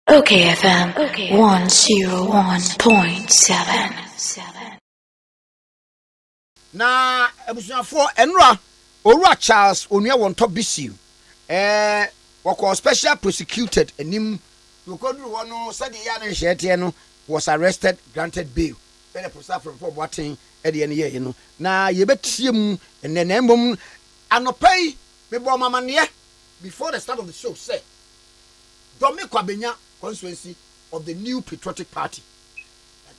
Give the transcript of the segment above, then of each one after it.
Okay FM 101.7. Na abusuafoɔ ɛnora owura Charles Onua Wɔntɔ Bisiw eh, wɔkɔɔ special prosecuted anim nti wɔkɔduru hɔ no sɛdeɛ ɛyɛ a ne nhyehyɛeɛ teɛ no was arrested granted bail sɛdeɛ Professor Afremfoɔ Boateng deɛ no yɛeɛ no na yɛbɛtie mu ɛnɛ na mmom anɔpa yi mebɔɔ mo amanneɛ before the start of the show sɛ Dormir Kwa benya constituency of the New Patriotic Party.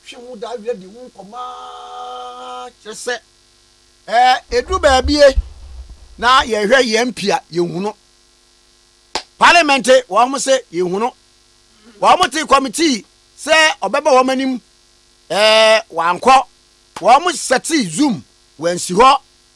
Yɛatwe ho da awia di ho nkɔmmɔ ara kyerɛ sɛ ɛɛ ɛduru baabie na yɛhwɛ yɛn MP a yɛnhunu. Parliament wɔn se yɛnhunu. Wɔn te committee sɛ ɔbɛba wɔn anim ɛɛ wankɔ. Wɔn sɛte Zoom wɔansi hɔ.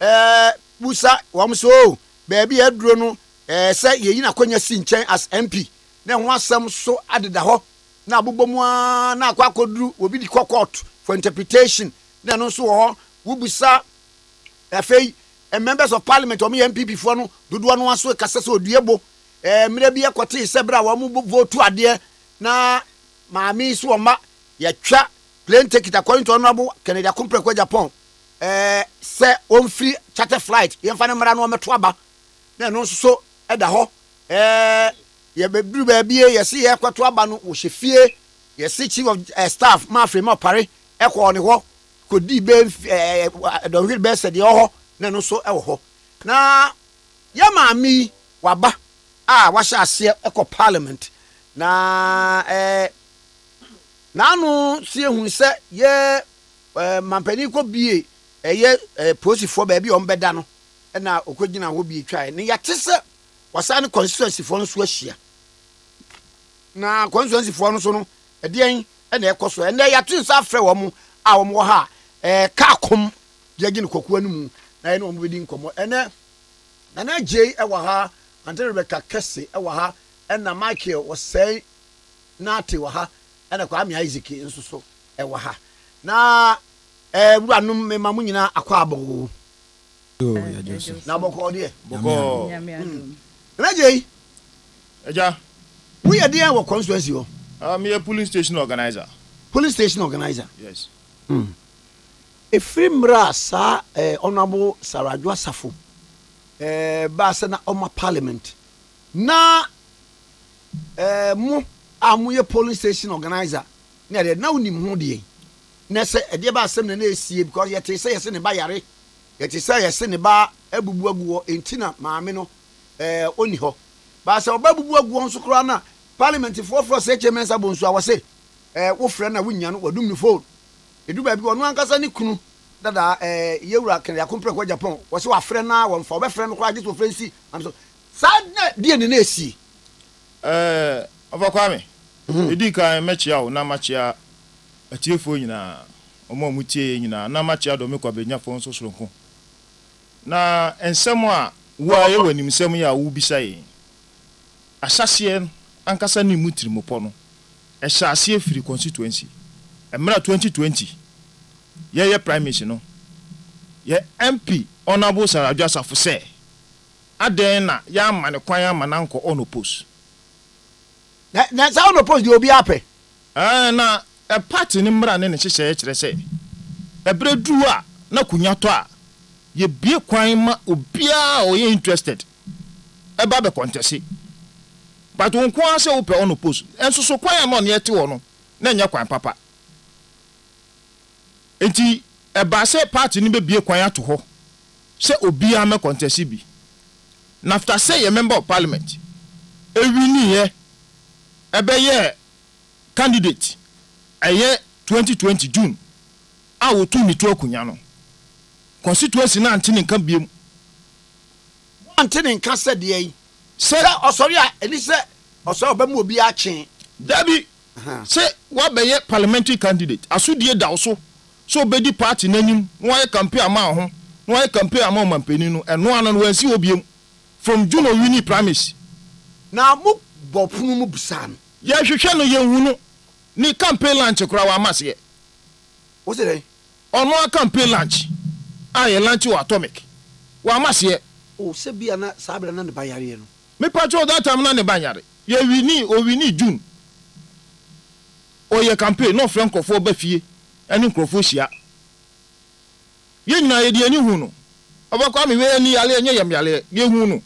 Eh, busa wɔn sɛ oh, baabi a aduro no, eh, sɛ yɛyi n'akwanya si nkyɛn as MP, na ɛho asɛm so adeda hɔ, na abobɔ mu ara na akɔ akɔduru obi de kɔ court for interpretation, na ɛno nso wɔ hɔ, wobusa afei eh, members of parliament a wɔyɛ NPP foɔ no, dodoɔ no ara so kasa sɛ odue bo, eh, mmerɛ bi ɛkɔtee sɛ berɛ a wɔn bo votu adeɛ na maame yi so wɔn mma yɛtwa plane ticket according to Honourable Kennedy Akompreko Agyapong, Ɛɛ sɛ wɔmfiri charter flight, yɛmfa no mmra na wɔmmɛto aba, na ɛno nso so da hɔ. Ɛɛ yɛbɛduru baabi e, yɛse yɛrekɔto aba no, wɔhyɛ fie, yɛse chief of ɛɛ staff ma afiri ma ɔpare, ɛkɔɔ ne hɔ kɔdii bɛɛ mf ɛɛ dɔnhwere bɛɛ sɛ deɛ ɛwɔ hɔ, na ɛno nso wɔ hɔ. Na yɛn maame yi, waba a wahyɛ aseɛ ɛkɔ parliament, na ɛɛ n'ano sie hunu sɛ yɛ Ɛɛ manpanin kɔ bie ɛyɛ ɛɛ polisifoɔ baabi a wɔbɛda no ɛna ɔkɔ gyina hɔ bie twaeɛ ne yɛte sɛ wasan ne constituencyfoɔ no so ahyia na constituencyfoɔ no so no ɛdeɛn ɛna ɛkɔ so ɛnɛ yɛato nsa afrɛ wɔn a wɔn wɔ ha a ɛɛ kaa kɔm deɛ gye ne kɔkoa no mu na yɛne wɔn bɛdi nkɔmmɔ ɛnɛ nana gyei ɛwɔ ha ante rebɛka kɛse ɛwɔ ha ɛna michael wɔsɛe naate wɔ ha ɛna kwame isaac nso so ɛwɔ ha na ɛɛ wuranom mema mo nyinaa akwaabɔ oo. Yoo yɛdwo so. Na bɔkɔɔ deɛ. Bɔkɔɔ. Nyame adom. Mm. Nana Gyei. Agya. Woyɛ deɛn wɔ constituency hɔ? Ah, meyɛ polling station organizer. Polling station organizer. Yes. Mm. Ɛfiri mmerɛ a saa eh, Honourable Sarah Adwo Asafo eh, baa sɛ na ɔma parliament na eh, mo a moyɛ polling station organizer Na deɛ na wonim ho deɛ ne sɛ ɛdeɛ ba asɛm na na ɛresie because yɛtee sɛ yɛse ne ba yare, yɛte sɛ yɛse ne ba abubu agu hɔ enti na maame no ɛɛ ɔnni hɔ. But sɛ ɔba abubu agu hɔ nso koraa na parliament foɔ frɛ ɔsɛ HA Mensah Bonsu a wɔse ɛɛ wofrɛ no a wonnya no, wɔdum no phone. Ɛdu baabi a ɔno ankasa ne kunu dada ɛɛ Yewura Kennedy Akompreko Agyapong wɔse wafrɛ no a wɔmfa, wɔbɛfrɛ no koraa gye sɛ wɔfrɛ nsi maame so. Saa na deɛ na na ɛresie Ɛɛ, Ɔfa Kwame, ɛdi kan mɛkyea wo na makyea atiefoɔ nyinaa, wɔn a wɔtie yɛn nyinaa, na makyea Dɔme Kwabenyafoɔ nso soronko. Na nsɛm a wo ara yɛ w'animsɛm yi a wobisa yɛn yi, ahyɛaseɛ ankasa ne mu tirimopɔ no, ɛhyɛɛ aseɛ firii constituency. Mmerɛ a 2020 yɛreyɛ primaries no, yɛn MP Honourable Sir Adwo Asafo sɛ, Adɛn na yɛamma no kwan amma no ankɔ Onopos? Na na saa Onopos deɛ obiara pɛ. Ɛɛ, na pati no mmara ne ne nhyehyɛeɛ kyerɛ sɛ, ɛberɛ duru a na akonya tɔ a, yɛbue kwan ma obiara a ɔyɛ interested ba bɛkɔntɛse. But wo nko ara sɛ wopɛ Onopos, nso so kwan a na ɔne yɛte hɔ no, na ɛnyɛ kwan papa. Enti ɛbaa sɛ party no bɛbue kwan ato hɔ sɛ obiara mmɛ kɔntɛse bi. Nafta sɛ yɛ Member of Parliament ɛwiniiɛ ɛbɛyɛɛ candidate ɛyɛ 2020 June a ɔtuu ne to akunya no. Constituency no ante ne nka biom. Wɔante ne nka sɛ deɛn? Sɛ ɔsɔre a ɛni sɛ ɔsɔre a ɔbɛma obiara kyee. Dabi! Sɛ woabɛyɛ parliamentary candidate, asodie da wo so sɛ wobɛdi party no anim na woayɛ campaign ama wo ho na woayɛ campaign ama ɔmanpanin no. Ɛno ano no, wɔansi hɔ biom from June a ɔwinii primaries. Na mo bɔɔ pono mu bisaa no. Yɛhwehwɛ no, yɛnhu no. Ne campaign lunch koraa, wamma aseɛ. Wo se dɛn? Ɔno ara campaign lunch a yɛ lunch wɔ Atomic, wamma aseɛ. O, sɛ bia na saa berɛ no na ne ba yareɛ no. Me patrɔ that time na ne ba nyare yɛ wini owini June ɔyɛ campaign na ɔfrɛ nkorɔfoɔ ba fie ɛne nkorɔfoɔ hyia yɛ nyinaa yɛde yɛni hu no ɔba Kwame wei ɛni yareɛ ɛnyɛ yɛm yareɛ yɛ hu no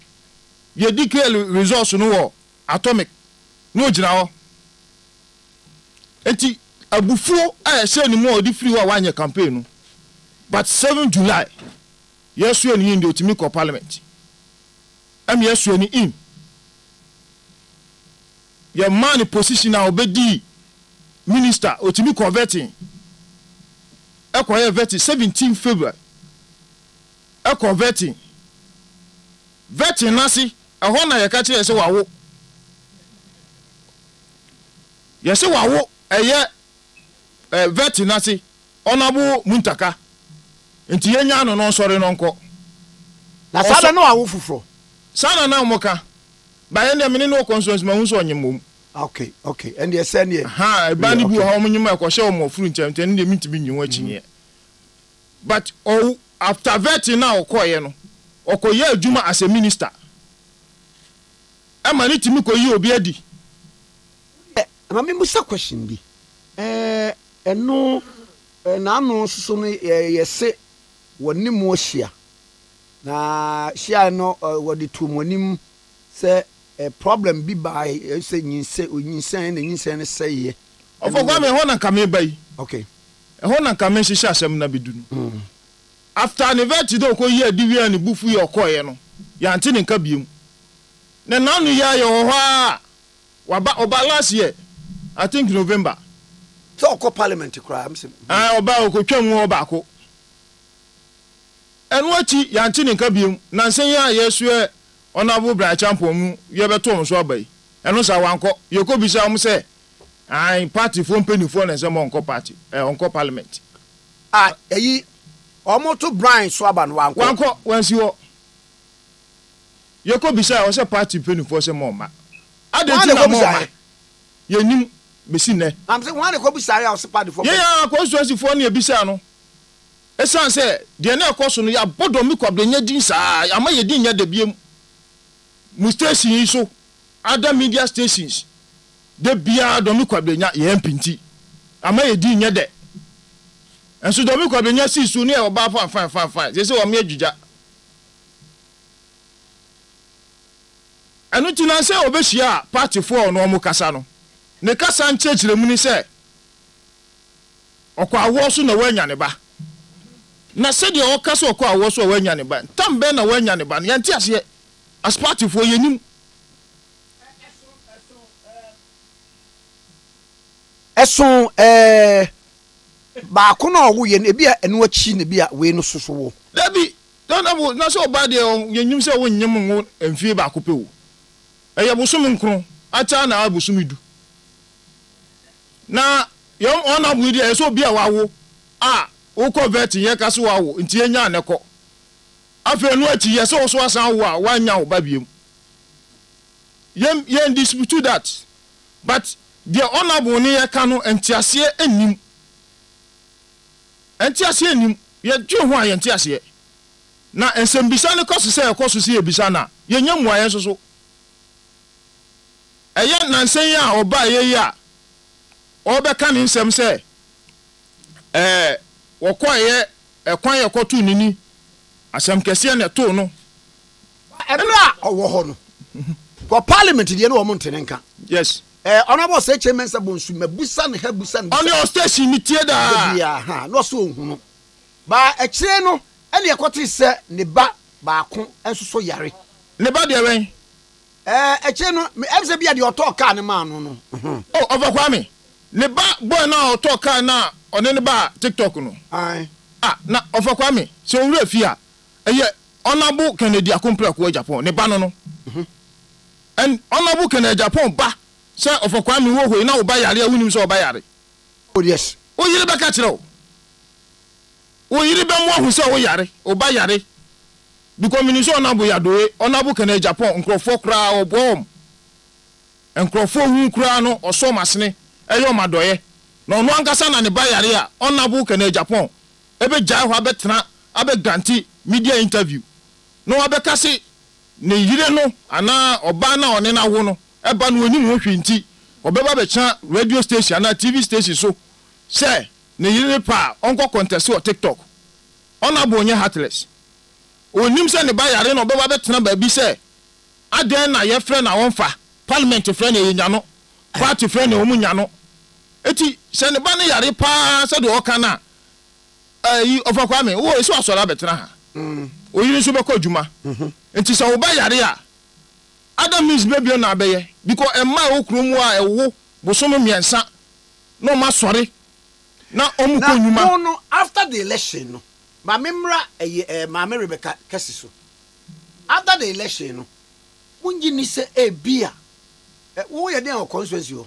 yɛ declare results no wɔ atomic na ɔgyina hɔ ɛnti abufuo a ɛhyɛ ne mu a ɔde firi hɔ a wanyɛ campaign no but seven July. Yɛ sua ni in deɛ ɔtumi kɔ parliament ɛna yɛ sua ni in yɛ maa ne position a ɔbɛ dii minister ɔtumi kɔ vetting ɛkɔ yɛ vetting 17 February ɛkɔ vetting vetting nase ɛhɔ na yɛ ka kyerɛ yɛ sɛ wawo yɛ sɛ wawo ɛyɛ eh, vetting nase Ɔnabo Muntaka, nti yɛnyaa no na ɔnsɔre na ɔnkɔ. Na saa da no awo foforɔ. Saa na na wɔn ka. Ba yɛn deɛ mene no wɔ constituency mahu sɛ ɔnyem wɔn. Ok ok ɛndeɛ sɛ neɛ. Ahaa ɛbaa no bi wɔ hɔ a wɔn nyem a ɛkɔhyɛ wɔn afuru ntɛm ntɛm ɛno deɛ mentumi nyi ho akyinnyeɛ. But ɔwo after vetting no a ɔkɔeɛ no ɔkɔyɛɛ adwuma as a minister ɛma no tumi kɔyii obi adi. Ma me mmusa question bi eh, ɛno eh, n'ano soso no eh, yɛ se wɔ ne mo ahyia na hyiae no eh, wɔ de too mo anim sɛ eh, problem bi bae eh, sɛ nyinsɛ, onyinsɛn na nyinsɛn no sɛeɛ Ɔfo Kwame ɛhɔ na nka meba yi. Okay. Ɛhɔ na nka mehyehyɛ asɛm no abedu no. After ne vɛti dɛ ɔkɔyii ade wie a ne bo fuui a ɔkɔeɛ no, yɛante ne nka biom. Na n'ano yɛ ayɛ hɔhɔ ara. Waba ɔbaa last year I think November. Sɛ ɔkɔ parliament koraa mese hmm. Ae ɔbaa ɔkɔtwa mu hɔ baako. Ɛno akyi yɛante ne nka biom. Nansa yi a yɛsoɛ Honourable Brian Acheampong mu yɛbɛto wɔn so aba yi, ɛno saa wankɔ. Yɛkɔbisaa wɔn sɛ ae party foɔ mpanimfoɔ na ɛsɛ ma ɔnkɔ party eh, ɔnkɔ parliament. A ɛyi wɔn to Brian so aba no wankɔ. Wankɔ, wansi hɔ. Yɛkɔ bisaɛ hɔ sɛ party mpaninfoɔ sɛ moɔma adɛn Hwan na nti na ɛkɔ moɔma bisaeɛ? yɛnnim bɛsi nnɛ. Na mesɛ hwan na ɛkɔ bisaeɛ a ɔse party foɔ Yɛn mpaninfoɔ. ara constituency foɔ na yɛbisaa no ɛsiane sɛ deɛ na ɛkɔ so no yɛabɔ Dormmy Kwabena din saa yɛama yɛn din nyɛ dɛ bio mo station yi so other media stations da biara Dormmy Kwabena yɛn MP nti ama yɛn din nyɛ dɛ nso Dormmy Kwabena sii so ne yɛwɔ baa fanfan fanfan seesei wɔn yɛ dwegya Ɛno nti na sɛ obehyia partyfo a ɔne wɔn kasa no, ne kasa nkyerɛkyerɛmu ne sɛ ɔkɔ awoɔ so na wanya ne ba. Na sɛdeɛ ɔka sɛ ɔkɔ awoɔ so a wanya ne ba, tam bɛn na wanya ne ba no, yɛnte aseɛ. As partyfoɔ, yɛnnim. Ɛsoo ɛɛ Baako no a ɔwoeɛ no, ebia ɛno akyi na ebia wei no nso so wo. Dabi, na na wo, na sɛ ɔbaa deɛ ɔ, yɛnnim sɛ wonnyem nwo mfie baako pɛ o. Ɛyɛ bosome nkron, akyɛ a na ayɛ bosome du. Na yɛn honourable yi deɛ, ɛyɛ sɛ obi a wawo a, wokɔ vet no yɛka sɛ wawo, nti yɛnnya a na kɔ. Afei ɛno akyi, yɛ sɛ wo nso asan awo a, woannya wo ba biom. Yɛn, yɛn dispute that. But deɛ honourable no yɛka no nteaseɛ nnim. Nteaseɛ nnim. Yɛdwen ho a yɛnte aseɛ. Na nsɛmbisa no kɔso sɛ ɛkɔ so sɛ yɛbisa no a yɛnnya mmuaeɛ nso so. Ɛyɛ nansa yi a ɔbaeɛ yi a ɔrebɛka ne nsɛm sɛ ɛɛ wɔkɔeɛ ɛkwan a ɛkɔtoo n'ani asɛm kɛseɛ na ɛtoo no Ɛberɛ a ɔwɔ hɔ no, wɔ parliament deɛ ne wɔn nte ne nka. Yes. Ɛɛ eh, ɔnabɔ sɛ kyɛ mɛnsa bɔ nsu mɛ busa ne ha busa ne. Ɔne ɔstation ne tie daa. Ebi ya ha na ɔsɛ ohun no. Ba ɛkyerɛ no ɛne ɛkɔte sɛ ne ba baako nso so yare. Ne ba deɛ wɛn. Ɛɛ eh, ɛkyerɛ no ɛbi sɛ bi a deɛ ɔtɔɔ kaa ne maa no no. Oh ɔfa kwa me. Ne ba boy na ɔtɔɔ kaa na ɔne ne ba tiktok no. Ayi. Ah na ɔfa kwa me sɛ owura fi a ɛyɛ Honourable Kennedy Akomprɛ Ɔkoa Agyapong, ne ba no no. And Honourable Kennedy Agyapong ba sɛ ɔfɔ Kwame wo wɔ hɔ yi na wo ba yare a wonim sɛ ɔba yare. Oh yes. Wo yere bɛka kyerɛ wo. Wo yere bɛmo ahu sɛ wo yare, wo ba yare. Because menim sɛ Honourable Yadoe, Honourable Kennedy Agyapong nkorɔfoɔ koraa ɔboa wɔn. Nkorɔfoɔ hu koraa no ɔsɔ wɔn asene, ɛyɛ wɔn adɔeɛ. Na ɔno ankasa na ne ba yare a Honourable Kennedy Agyapong bɛgyae hɔ abɛtena abɛguante media interview na wabɛka se ne yere no anaa ɔbaa no a ɔne no awo no ba no ɔnim ho hwee nti ɔbɛba abɛtena radio station anaa TV station so sɛ ne yere ne pɛ a ɔnkɔ kɔntɛse wɔ TikTok. Ɔnabor nyɛ heartless. Ɔnnim sɛ ne ba yare na ɔbɛba abɛtena baabi sɛ adɛn na yɛfrɛ no a ɔmfa, parliament frɛ no a yɛnya no, party frɛ no a wɔnya no. Enti sɛ ne ba no yare paa sɛdeɛ ɔka no a, ayi ɔfa kwame wo esi wasɔre abɛtena ha oyiri nso bɛkɔ adwuma nti sɛ wo ba yare a other means bɛbia na abɛyɛ because ɛma ɛwɔ kuro mu a ɛwo bosom mmiɛnsa na ɔma sɔre na ɔmo kɔ nnwuma. na wɔn no after the election no maame mmra ɛyɛ ɛɛ maame rebecca kɛse so after the election no mo ngye ni sɛ ebia ɛ wo yɛ den wɔ constituency hɔ.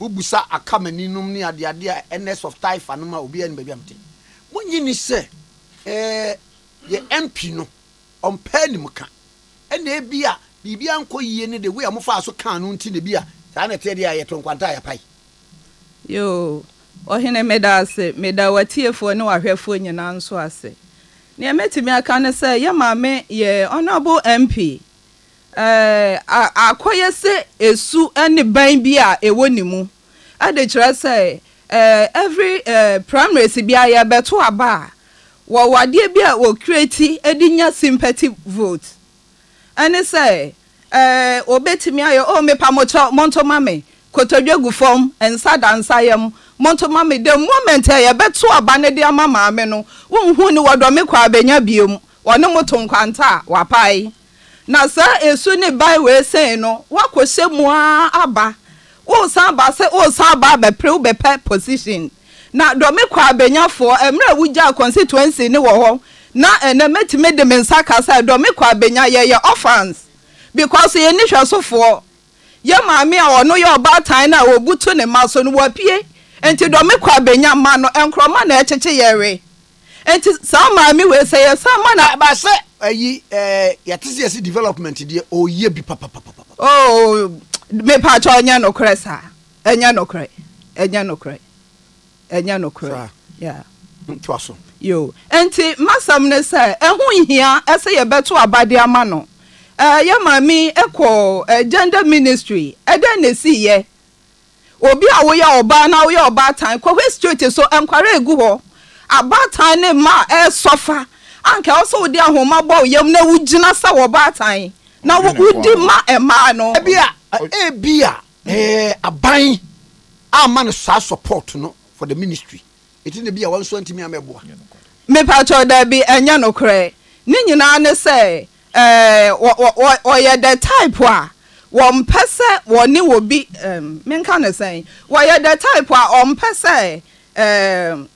Wobisa Akamani nom ne adeade a Ernest of Taifa nom a obiara nnim baabi a mete. Monnye nni sɛ, eh, yɛn MP no, ɔmpɛ animka. Ɛnna ebia biribi ankɔ yiye ne the way a mofaa so kaa no nti na ebia saa na ɛteɛ deɛ a yɛtoo nkwanta a yɛapae. Yoo, Ɔhene, meda ase. Meda w'atiefoɔ ne w'ahwɛfoɔ nyinaa nso ase. Deɛ mɛtumi aka ne sɛ, yɛn maame, yɛn Honourable MP, a akɔyɛ sɛ esu ne ban bi a ɛwɔ ne mu de kyerɛ sɛ every primaries bi a yɛbɛto aba a wɔwɔ adeɛ bi a wɔkireti de nya sympathy vote ɛne sɛ wɔbɛtumi ayɛ o mepa mokyɛ monto ma me kotodwe gu fam nsa da nsa yam monto ma me the moment a yɛbɛto aba no de ama maame no wonhu ne wɔdɔ me kɔ abɛnya biom Wɔne mo to nkwanta a wɔapae. Na saa asu ne bae wei sɛn no, woakɔhyɛ mu ara aba. Woresan aba ase, woresan aba abɛpere wo bɛpɛ position. Na dɔme kɔ a bɛnya foɔ, mmerɛ a wogyaa constituency no wɔ hɔ. Na ɛnnɛ mɛtumi de me nsa ka sɛ dɔme kɔ a bɛnya, yɛyɛ orphans. Because yɛnni hwɛsofoɔ. Yɛn maame a ɔno yɛ ɔbaatan no a ɔbutu ne mma so no, wapue. Nti dɔme kɔ a bɛnya, mma no, nkorɔma na ɛkyekye yɛn we. Nti saa maame wei sɛ yɛ san ma na. Ba sɛ ayi ɛɛ yɛ te sɛ yɛ si development deɛ ɔyɛ bi papapapa. Oo mepatwa ɔnyɛ nokorɛ saa ɛnyɛ nokorɛ ɛnyɛ nokorɛ ɛnyɛ nokorɛ yaa. Ntoa so. Yo nti masɛm ne sɛ ɛho nhia ɛsɛ yɛ bɛto aba de ama no ɛɛ yɛ maame ɛkɔ ɛɛ gender ministry ɛdɛn na esi yɛ Obi a woyɛ ɔbaa na woyɛ ɔbaatan kɔ hɔ straight so nkware egu hɔ. Abaatan ne mma a ɛresɔfa anka ɛwɔ sɛ wode ahoma bɔ wo yam na wogyina sɛ wɔbaatan na wodi ma mmaa no. Ebia ebia aban amma no saa support no for the ministry eti na ebia wɔn nso antumi ammɛboa. Mepakyɛw dabi ɛnyɛ nokorɛ. Ne nyinaa ne sɛ Ɛɛ, wɔyɛ the type a wɔmpɛ sɛ wɔne obi, ɛɛm, menka no sɛn? Wɔyɛ the type a wɔmpɛ sɛ, ɛɛm,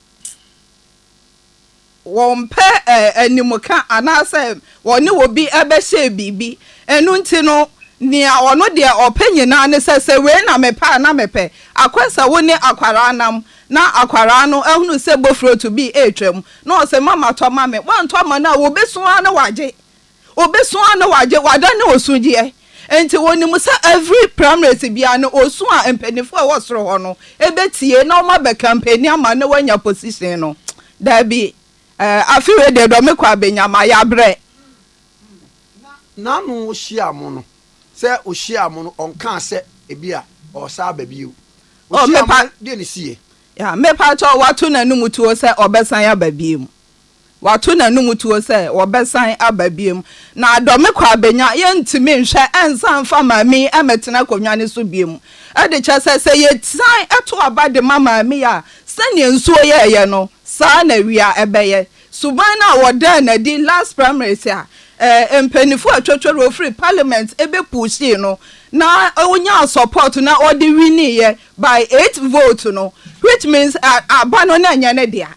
wɔmpɛ animka anaasɛ wɔne obi bɛhyɛ biribi. Ɛno nti no, nea ɔno deɛ ɔpɛ nyinaa ne sɛ, sɛ wei na mepɛ a, na mepɛ. Akwasa, wo ne akwadaa nam, Na akwadaa no ahunu sɛ bofrotu bi retwam, na ɔse, Mama, tɔ ma me. Woantɔ ama no a, obesu ara na wagye. Obesu ara na wagye. Wadane osugyeɛ. Enti onim sɛ every primaries biara no, osu a mpaninfoɔ a ɛwɔ soro hɔ no betie na wɔabɛ campaigni ama no na wanya position no. Daabi, eh, afe wei deɛ dɔme kɔ a benya, mayɛ abrɛ. Na n'ano hyia mo no, Sɛ ohyiaa mo no, ɔnkaa sɛ ebia ɔresan aba bio. Oh, Ohyiaa mo mepa, no, deɛ na ɛsiiɛ? yeah, mepa kyɛw, wato n'anom tuo sɛ ɔbɛsan aba biom. Wato n'anom tuo sɛ ɔbɛsan aba biom. Na adɔ me kɔ abɛnya, yɛntumi nhwɛ nsan mfa maame yi mmɛtena akonnwa no so biom. Ɛde kyerɛ sɛ, sɛ yɛsan to aba de ma maame yi a, sɛdeɛ nsuo yɛeɛ no, saa ara na awia bɛyɛ. Suban no a wɔdaa no adi last primaries a mpanyinfo a atwa tware ofiri parliament ebe pushii no na onyaa support na ɔde winiiɛ by eight vote no which means aba no na ɛnyɛ ne dea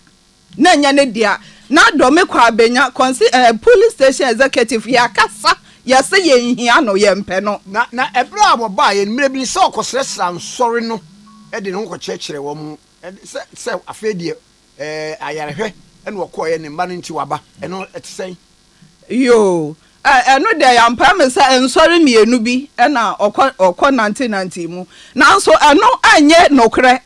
na ɛnyɛ ne dea na dɔme kɔ abenya kɔnsi eh, police station executive yɛ akasa yɛ se yɛ nhia no yɛ mpɛ no. Na na ɛberɛ a wɔbaa yɛ mmerɛ bi no sɛ ɔkɔsrɛsrɛ ansɔre no de ne ho kɔkyerɛkyerɛ wɔn sɛ sɛ afei deɛ Ɛɛ ayarehwɛ na ɔkɔeɛ, ne mma no nti waba. Ɛno ɛte sɛn? Yoo, ɛ ɛno deɛ yɛampae me sɛ nsɔre mmienu bi na ɔkɔ ɔkɔnantenantee mu. Nanso ɛno ɛnyɛ nokorɛ.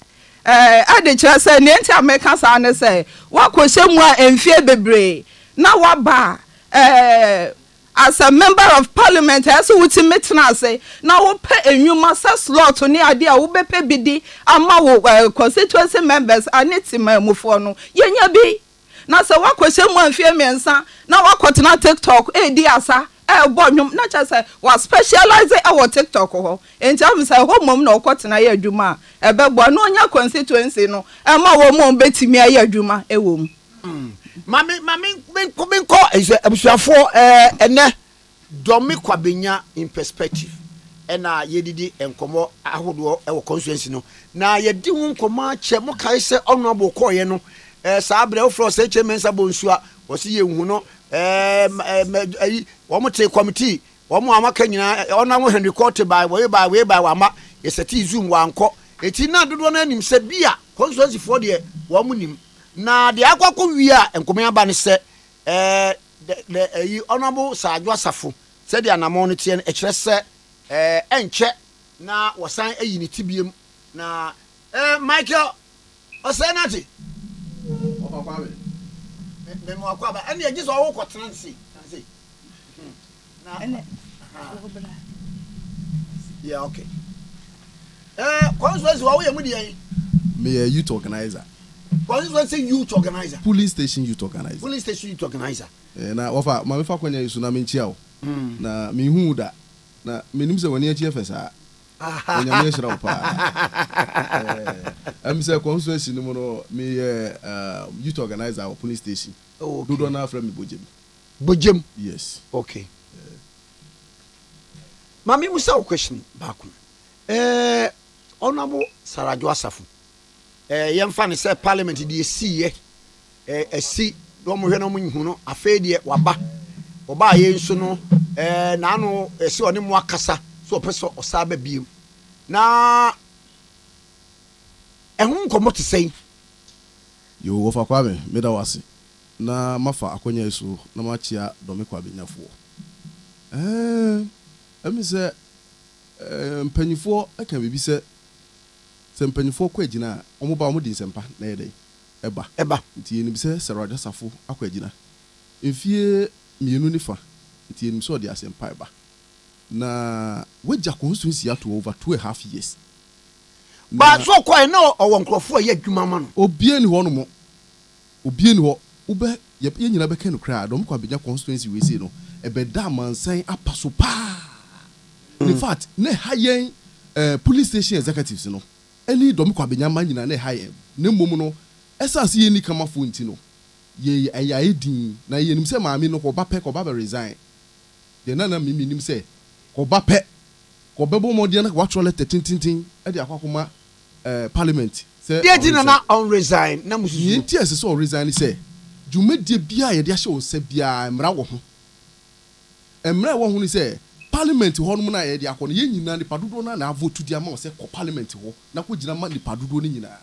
Ɛɛ ɛde kyerɛ sɛ, deɛ nti a meka saa ne sɛ, woakɔhyɛ mu a mfeɛ bebree na woaba a, ɛɛ As a member of parliament ɛyɛ sɛ wotumi tena ase na wopɛ nnwuma sɛ slot ne adeɛ a wobɛpɛ bi di ama wo constituency members ne temanmufoɔ no. Yɛnya bi na sɛ woakɔhyɛ mu mfeɛ mmiɛnsa na woakɔtena TikTok redi asa rebɔ nnwom na kyerɛ sɛ woaspecialise wɔ TikTok hɔ nti ahu sɛ ɛhɔ mmom na wokɔtena yɛ adwuma a ɛbɛboa na wonya constituency no ma wɔn a wɔbɛtumi ayɛ adwuma wɔ mu. Mm. Ma me ma me menkɔ menkɔ ɛsɛ abusuafoɔ ɛɛ eh, ɛnɛ dɔmi kwa benya in perspective ɛna yɛdidi nkɔmɔ ahodoɔ ɛwɔ constituency no na yɛdi ho nkɔmɔ akyɛ mo kae sɛ ɔno abo kɔɔyɛ no ɛɛ saa abirɛ wofrɛ ɔsɛ kyɛ mɛnsa bɔ nsuo a wɔsi yɛ nhu no ɛɛ ɛɛ ɛyi wɔn te kɔmitii wɔn a wɔaka nyinaa ɔno awo henry kɔɔte baa wɔyɛ baa wɔyɛ baa wɔama yɛsɛ ti zoom wɔankɔ eti na dodoɔ no anim sɛ bi a constituency foɔ deɛ wɔn nim Na deɛ akɔ akɔ wie a nkɔmɛ aba ne sɛ eh, the, the, ayi, Honourable Sir Adwo Asafo, sɛdeɛ anamɔn no teɛ no, ɛkyerɛ sɛ eh, ɛnkyɛ na wɔsan ayi ne ti biem na eh, Michael Ɔsɛe Nate, Ɔfa Kwame, me, me, Mmoakwa aba, ɛnneɛ gye sɛ ɔwokɔtena ne se, ne se. Meyɛ youth organiser. Polling station youth organiser. Na wɔfa ma mefa kwan yi so na menkyia wo. Na menhu wo da, na menim sɛ w'ani akyi yɛ fɛ saa. Onyame ahyira wo paa. Ɛm sɛ constituency no mu no meyɛ youth organiser wɔ polling station. Dodoɔ no ara frɛ me Bogyemi. Bogyam. Yes. Okay. Yeah. Mami musa wo question baako. Eh, Honorable Sarajo Asafo. Eh, yɛmfa ne sɛ parliament deɛ si yɛ. Eh, asi na wɔn hwɛ na wɔn nyihu no afei deɛ waba. Ɔbaa yɛ nso no eh, n'ano ɛsi eh, ɔne mu akasa so ɔpɛ sɛ ɔsaa ba biem. Na ɛho nkɔmɔ te sɛn? Yo, wɔfa kwa me, meda wase. na mafa akwanya yi so na makyea Dɔme Kwabenyafoɔ. Ɛɛ, ɛmi sɛ ɛɛ mpaninfoɔ ɛka biribi sɛ, sɛ mpaninfoɔ kɔ agyina a, wɔn ba wɔn de nsɛmpa na ɛyɛ dɛn? Ɛba. Ɛba. Nti yɛnim sɛ Sir Roger Safo akɔ agyina mfie mmienu ne fa, nti yɛnim sɛ ɔde asɛmpa reba. Na wagya constituency ato hɔ over two a half years. Ba, so ɔkɔɛ na ɔwɔ nkorɔfoɔ a ɛyɛ adwuma ma no? Obiara nni hɔ nom. Obia nni hɔ wobɛ yɛ yɛn nyinaa bɛka nokorɛ a dɔm kɔ abɛnya constituency wei sei no ɛbɛda amansan apaso paa in fact na ɛha yɛn eh, polling station executives no ɛne dɔm kɔ abɛnya mma nyinaa na ɛha yɛn na mmom no ɛsan se yɛnni kamafoɔ nti no yɛ ɛyɛ ayɛ din na yɛnim sɛ maame no kɔba pɛ kɔba bɛ resign deɛ na na me menim sɛ kɔba pɛ kɔbɛbɔ mmɔden na kɔatrɔ lɛtɛ tententen de akɔ akɔma parliament sɛ ɔresign. Deɛ nti na na ɔnresign na mususu. Deɛ nti a ɛsɛ sɛ ɔresign ne sɛ, dwumadie biara a yɛde ahyɛ wo nsa biara mmara wɔ ho. Mmara a ɛwɔ ho ne sɛ, parliament hɔ nom no a yɛde akɔ no, yɛn nyinaa nnipa dodoɔ no ara na avotu de ama wo sɛ kɔ parliament hɔ na kɔgyina ma nnipa dodoɔ no nyinaa.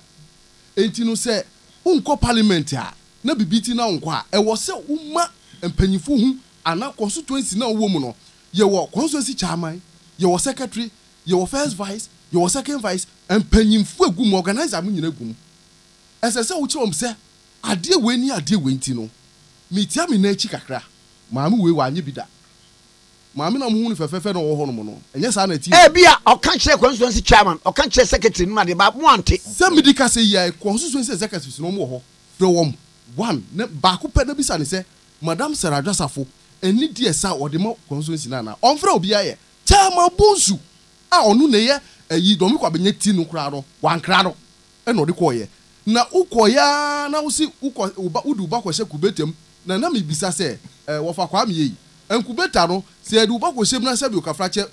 Enti no sɛ wonkɔ parliament a, na biribi nti na wonkɔ a, ɛwɔ sɛ woma mpanyimfoɔ hu anaa constituency no a wowɔ mu no, yɛwɔ constituency chairman, yɛwɔ secretary, Yɛwɔ first vice, yɛwɔ second vice, mpanyimfo a egu mu, organiser mo nyinaa gu mu. Ɛsɛ sɛ wokyerɛ wɔn sɛ adeɛ wei ne adeɛ wei nti no, metia me nan akyi kakra. Maame wei wanyɛ bi da. Maame no a mohu no fɛfɛɛfɛ na ɔwɔ hɔnom no, ɛnyɛ saa na ɛteɛ o. Ebia ɔka kyerɛɛ constituency chairman, ɔka kyerɛɛ secretary nom adeɛ but moante. Sɛ mede kasa yi ara, constituency executives no, wɔwɔ hɔ, frɛ wɔn one na baako pɛ na bisa no sɛ, Madam Sarah Adwasafo, ɛne deɛ saa a ɔde ma constituency no anaa? Ɔmfrɛ obiara ɛ. Chairman Bonsu a ɔno na ɛyɛ ayi Dormey Kwabena nya ti no koraa no, wankra no na ɔde kɔeɛ. Na wokɔeɛ ara na wose wokɔ wo ba, wode wo ba kɔhyɛ kubeta mu. Na na mebisa sɛ, eh, wɔfa Kwame ei? Nkubeta no, sɛ yɛde wo ba kɔhyɛ mu na sɛbi okafrakyɛ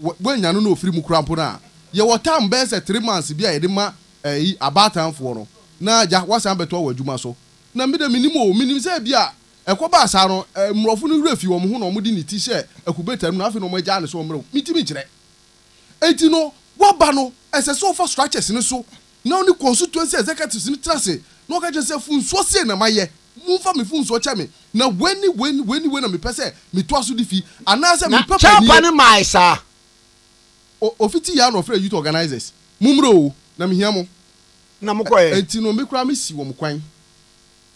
wɔ, woannya no na ofiri mu koraa mpo no a, yɛwɔ term bɛyɛ sɛ three months bi a yɛde ma eh, abaatanfoɔ no, na agya, woasan abɛtoa w'adwuma so. Na me deɛ mennim o, menim sɛ ebia Ɛkɔbaa saa no, mmorɔfo no werɛ fii wɔn ho na wɔde ne ti hyɛɛ akubetam no, na afei na wɔagyaa no sɛ ɔmmra mu. Mintumi nkyerɛ. Enti no, woaba no, ɛsɛ sɛ ɔfa structures no so na ɔne constituency executives no tena ase na ɔka kyerɛ sɛ, funsoɔ sei na mayɛ, momfa me funsoɔ kyɛ me, na wei ne wei ne wei ne wei na mepɛ sɛ metoa so de fi, anaasɛ Na mepɛ kyɛfa panieɛ. no mae saa. O, ɔfiti yɛ ara na ɔfrɛɛ youth organizers, Mommra oo, na mehia mo. Na mokɔeɛ. Enti no, me koraa mesi wɔn kwan.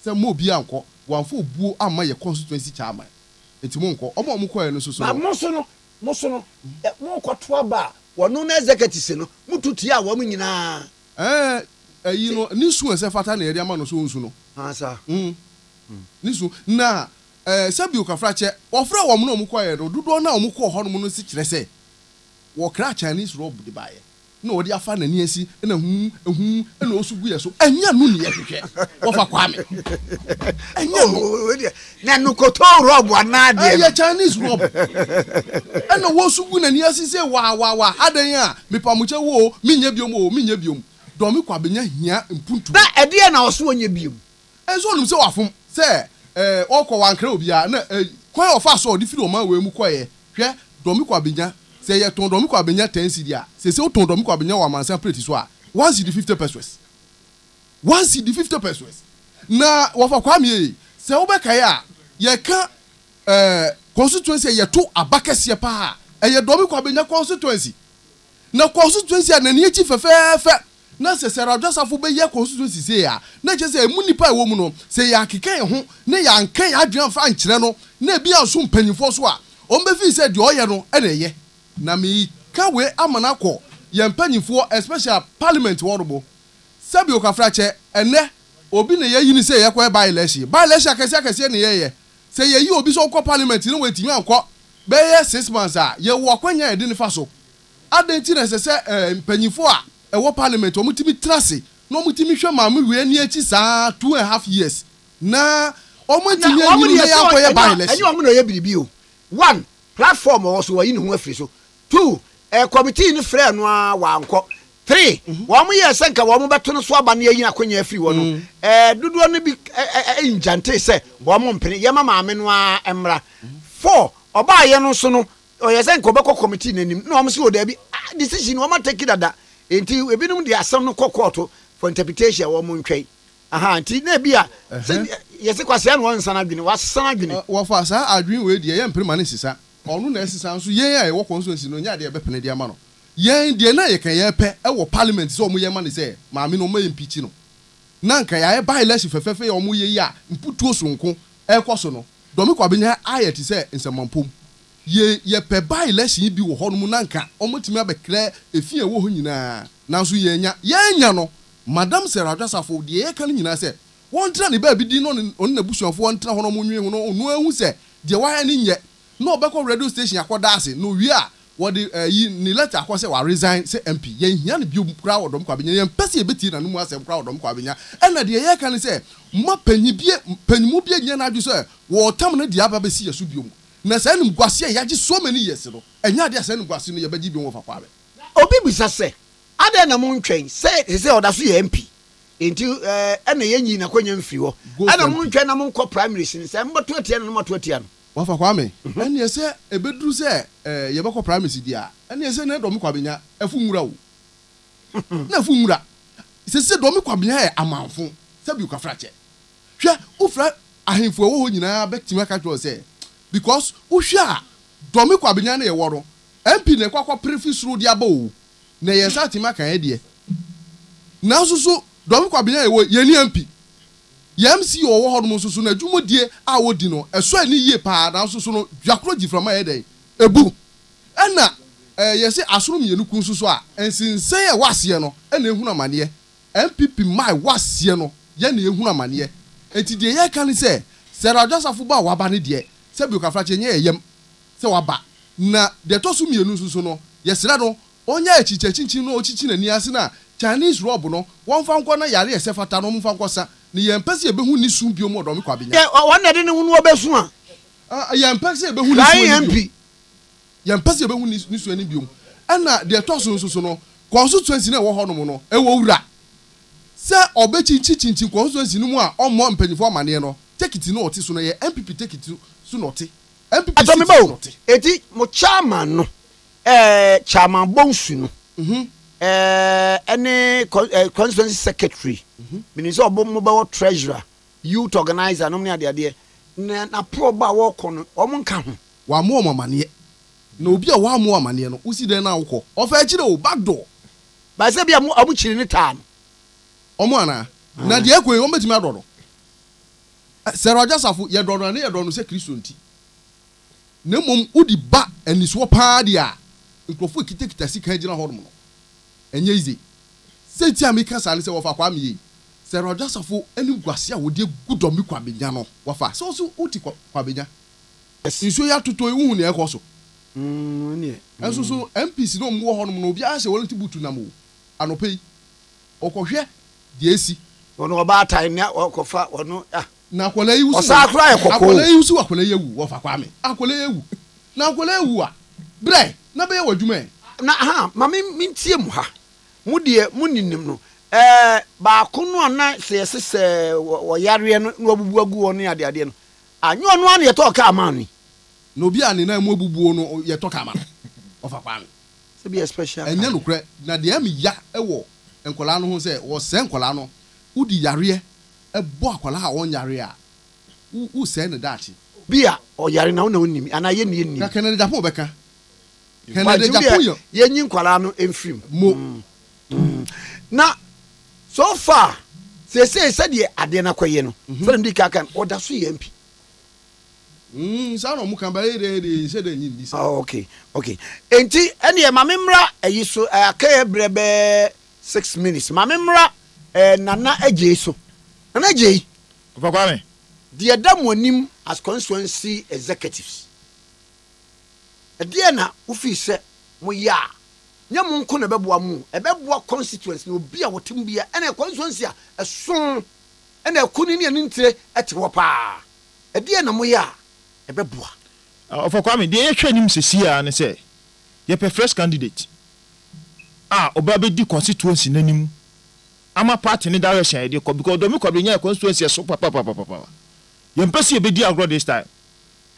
sɛ mma obiara nnkɔ, wɔammfa obuo amma yɛn constituency chairman nti monnkɔ. Wɔn a wɔkɔeɛ no soso no. Moso no, moso no, morekɔto aba a wɔno ne executives no, moto tia wɔn nyinaa. Ɛɛ, ayi no, ne su a ɛfata na yɛde ama no, so ɔnsu no? Aasa. Mm, ne su. Na ɛɛ, sɛbi Okafrakyɛ, wɔfrɛɛ wɔn na wɔkɔeɛ no, dodoɔ no a wɔkɔɔ hɔnom no nso kyerɛ sɛ wɔkraa Chinese robe de baeɛ. na ɔde afa nani asi na huu huu na ɔsu gu yɛ so ɛnyɛ no ne yɛ hwehwɛ wɔfa kwame ɛnyɛ no na no kɔtɔ rɔb anaa deɛ ɛyɛ chinese rɔb ɛna wɔsu gu nani asi sɛ waa waa waa adɛn a mepamukyɛ wo o menyɛ biom o menyɛ biom dɔmi kwa bɛnya hia mpuntuo na ɛdeɛ na ɔso ɔnyɛ biom Nso onim sɛ wafom, sɛ, eh, ɔkɔ, wankrɛ obiara, na, eh, kwan a ɔfaa so a ɔde firi ɔman wei mu kɔeɛ, hwɛ, dɔme kɔ abenya, sɛ yɛtɔn dɔme kɔ abenya ten cedi a, seesei wotɔn dɔme kɔ abenya wɔ amansan plate so a, one cedi fifty pesewas. One cedi fifty pesewas. Na wɔfa Kwame yɛ yei. Sɛ wobɛkae a, yɛka, eh, constituency a yɛto aba kɛseɛ paa a, ɛyɛ dɔme kɔ abenya constituency. Na constituency a n'ani akyi fɛfɛɛfɛ, Na sɛ Sarah Dwasafo bɛyɛ constituency sei a, na ɛkyerɛ sɛ ɛmu nnipa a ɛwɔ mu no, sɛ yɛankeka yɛn ho na yɛanka yɛn adwene amfa ankyerɛ no na ebi anso mpanyimfoɔ so a, wɔbɛfeel sɛ deɛ ɔyɛ no na ɛyɛ. Na mereka wei ama no akɔ yɛn mpanyimfoɔ especially parliament hɔ nom. Sɛbi okafrakyɛ, ɛnnɛ obi na yɛayi no sɛ yɛkɔyɛ by election. By election akɛseɛ akɛseɛ na yɛyɛ. Sɛ yɛyi obi sɛ ɔnkɔ parliament na wantumi ankɔ bɛyɛ six months a, yɛwɔ akwanya a yɛde no fa so. Adɛn nti na ɛsɛ sɛ mpanyimfo a ɛwɔ parliament wɔtumi tra ase na wɔtumi hwɛ Maame Wei ani akyi saa two and a half years na wɔantumi anyini na yɛankɔyɛ by election? Ɛnyɛ wɔn na wɔyɛ biribi o. One, platform a ɔwɔ so, wayi ne ho afiri so. Two, committee no frɛɛ no ara wankɔ. Three, wɔyɛɛ sɛ nka wɔbɛto no so aba na yɛayi n'akonnwa afiri hɔ no, dodoɔ no bi ngyantee sɛ wɔmpene, yɛma Maame no ara mmra. Four, ɔbaeɛ no nso no, Ɔyɛ sɛ nka ɔbɛkɔ committee no anim na wɔn si o daabi ah decision wɔn atɛki dada nti ebinom de asɛm no kɔ kɔɔto for interpretation wɔn ntwɛn aha nti na ebi a sɛ yɛsi kwasia na wɔn nsa n'adwene wɔasesa n'adwene. Wɔfa saa adwene wei deɛ yɛn mpere ma ne sisa ɔno na ɛsesa nso yɛn a yɛwɔ constituency no nyɛ adeɛ yɛbɛpene de ama no yɛn deɛ na yɛka yɛpɛ ɛwɔ parliament sɛ wɔn yɛ ma ne sɛ maame no wɔn impeachi no na nka yɛayɛ by election fɛfɛɛfɛ yɛ wɔn yɛ yi a mputuo soronko ɛkɔ so no. Dɔme Kwabena ayɛ te sɛ nsɛmampom. Ye yɛpɛ by election yi bi wɔ hɔ nom na nka wɔatumi abɛkrɛ efi a ɛwɔ hɔ nyinaa nanso yɛannya. Yɛannya no. Madam Sarah Adwasafo, deɛ yɛka no nyinaa sɛ wɔntra ne baabi din na ɔne ɔne n'abusuafoɔ ntra hɔ na wɔnwene ho na ɔno ahu sɛ deɛ wayɛ no nyɛ na ɔbɛkɔ radio station akɔda ase na ɔwie a Wɔde ayi ne letter kɔ sɛ wa resign sɛ MP. Yɛn hia no biom koraa wɔ Dɔm Kwaa Benya. Yɛn pɛ sɛ yɛbɛtie n'anomu asɛm koraa wɔ Dɔm Kwaa Benya. Ɛna deɛ yɛreka ne sɛ, mma panyin bia, panyinmu bia nyɛ n'adwene sɛ wɔretam no de aba abɛsi yɛn so biom. Na saa animguase a yɛagye so many years no, ɛnyɛ adeɛ a saa animguase no yɛbɛgye biom wɔ Fakwaa bɛ. Obi bisa sɛ, adɛn na mo ntwɛn sɛ sesei ɔda so yɛ MP nti ɛna yɛn nyi n'akwanya mfiri hɔ? Ɛna mo ntwɛn na mo nkɔ primaries no sɛ mo bɛto atia no na mo ato atia no? Wɔafa Kwame. Ɛnneɛ sɛ ɛbɛduru sɛ yɛbɛkɔ primaries deɛ a, ɛnneɛ sɛ na Dɔme Kwabenya afu nwura o. Na afu nwura. Seesei Dɔme Kwabenya yɛ amanfo, sɛbi Kafrakyɛ. Hwɛ, wofrɛ ahemfo a ɛwɔ hɔ nyinaa bɛtumi aka akyerɛ wo sɛ, because wohwɛ a, Dɔme Kwabenya no yɛwɔ no, MP na ɛkɔ akɔpere fi soro de aba o. Na yɛn nsa atumi aka yɛn deɛ. Nanso so Dɔme Kwabenya yɛwɔ, yɛnni MP. Yɛn CEO a ɔwɔ hɔnom nso so n'adwumadie a ɔdi no, ɛsɔ ani yie pa ara, nanso so no dwakorɔ gyiframa yɛ dɛn? Ɛbu. Ɛna eh, yɛse asono mmienu ku nso so a, nsensae a ɛwɔ aseɛ no na ɛhunu amaneɛ. NPP mma a ɛwɔ aseɛ no yɛ na ɛhunu amaneɛ. Enti deɛ yɛreka ne sɛ, Sarah Adwasafo ba a waba no deɛ, sɛbio Kafrakye ɛnyɛ yɛn yam sɛ waba. Na deɛ ɛtɔ so mmienu nso so no, yɛsrɛ no Onyaa ekyikyakyikyi na okyikyi n'ani ase na Chinese rob no wɔnfa nkɔ na yare a ɛsɛ fata no wɔnfa nkɔ sa no yɛn mpɛ sɛ yɛbɛhu ne su biom wɔ Dɔme Kwabenya. Sɛ wɔn na ɛde ne ho no ɔbɛsu a. Ah yɛn mpɛ sɛ yɛbɛhu ne su ani biom. Yɛn mpɛ sɛ yɛbɛhu ne su ani biom. Ɛna deɛ ɛtɔ so nso so no constituency no a ɛwɔ hɔ nom no ɛwɔ wura sɛ ɔbɛkyinkyi kyinkyin constituency no mu a ɔmmɔ mpanyinfoɔ amaneɛ no tekiti no a ɔte so no ɛyɛ NPP tekiti so na ɔte NPP seat so na ɔte. Eti mo chairman no Ɛɛ Chairman Bonsu no ɛɛ ne constituency secretary menim sɛ ɔbɔ mo bɛwɔ treasurer youth organizer nom ne adeadeɛ na naporɔ bɔ a wɔkɔ no wɔn nka ho. Wɔammɔ wɔn amaneɛ. Na obi a wɔammɔ wo amaneɛ no wosi dɛn na wokɔ? Ɔfa akyire o, back door. But sɛ bia wɔn kyiri ne taa no. Wɔn anaa? Na deɛ ɛkɔ yi wɔbɛtumi adɔ no? Sarah Ɔgyasafo, yɛdɔ no a ne yɛdɔ no sɛ Kristo nti. na mmom wode ba anisoɔ paa deɛ a, nkurɔfoɔ a ɛkitakita sika gyina hɔnom no, ɛnyɛ yize. Sɛ nti a meka saa ne sɛ, wɔfa Kwame yei. Sɛ Rajasafo animguaseɛ a wɔde agu Dɔmbi Kwabenya no, wɔfa a, sɛ wo nso wote Kwabenya. Nsuo yi atotɔ yi, wohu nea ɛrekɔ so? Nso so MPs no a wɔwɔ hɔnom no, obiara hyɛ wɔlɛnte buutu nam o, anɔpa yi, wɔkɔhwɛ deɛ asi. Wɔn ɔbaatan na wɔrekɔfa wɔn ah. Ɔsaa koraa yɛ kɔkɔɔ o. Na ahaa, ma me mentie mo ha, mo deɛ mo nnim no, ɛɛ, baako no a na sɛ yɛse sɛ ɔyareɛ no na wabubu agu hɔ ne adeadeɛ no, ah, nyɛ ɔno ara na yɛtɔɔ kaa maa no yi? Na obi a ne nan mu abubuo no yɛtɔ kaa ma no, ɔfa Kwame. Sɛ bia special car. Ɛnyɛ nokorɛ, na deɛ ɛme ya wɔ nkwadaa no ho sɛ wɔsɛɛ nkwadaa no, wodi yareɛ, bɔ akwadaa a ɔnyare a, wosɛe ne daakye. Obi a ɔyare na wo na wonim anaa yɛn na yɛnnim. Ka Kennedy Agyapong bɛka. Kennedy Agyapong yɛ. Yɛnyi nkwadaa no mfiri mu. Mo. Na so far seesei sɛdeɛ adeɛ no akɔyɛ no, sɛdeɛ mede kan kan ɔda so yɛ MP. Saa na wɔn ka bɛyɛ dɛ deɛ nhyɛ dɛ nyi nni saa. Okay, okay. Enti ɛneɛ ma me mmra ayi so, ɛɛ akɛyɛ berɛ bɛɛ. Six minutes ma me mmra ɛɛ Nana Adjei so. Nana Adjei. Ɔfa Kwame. Deɛ ɛda mo anim as constituency executives, ɛdeɛn na wo feel sɛ mo yɛ a, nyɛ mo nko na ɛbɛboa mo o, ɛbɛboa constituency no, obi a wɔte mu biara, ɛna constituency a ɛso ɛna ɛko ni ne ani ntire ɛte hɔ paa, ɛdeɛn na mo yɛ a ɛbɛboa? Ɔfa Kwame, deɛ yɛhwɛ anim sesie ara ne sɛ, yɛpɛ fresh candidate. a ɔbɛ abɛdi constituency no anim ama party no direction a yɛde kɔ because Domi Kwabena nyaa constituency ɛso papapapapa yɛn mpɛ sɛ yɛbɛdi agorɔ this time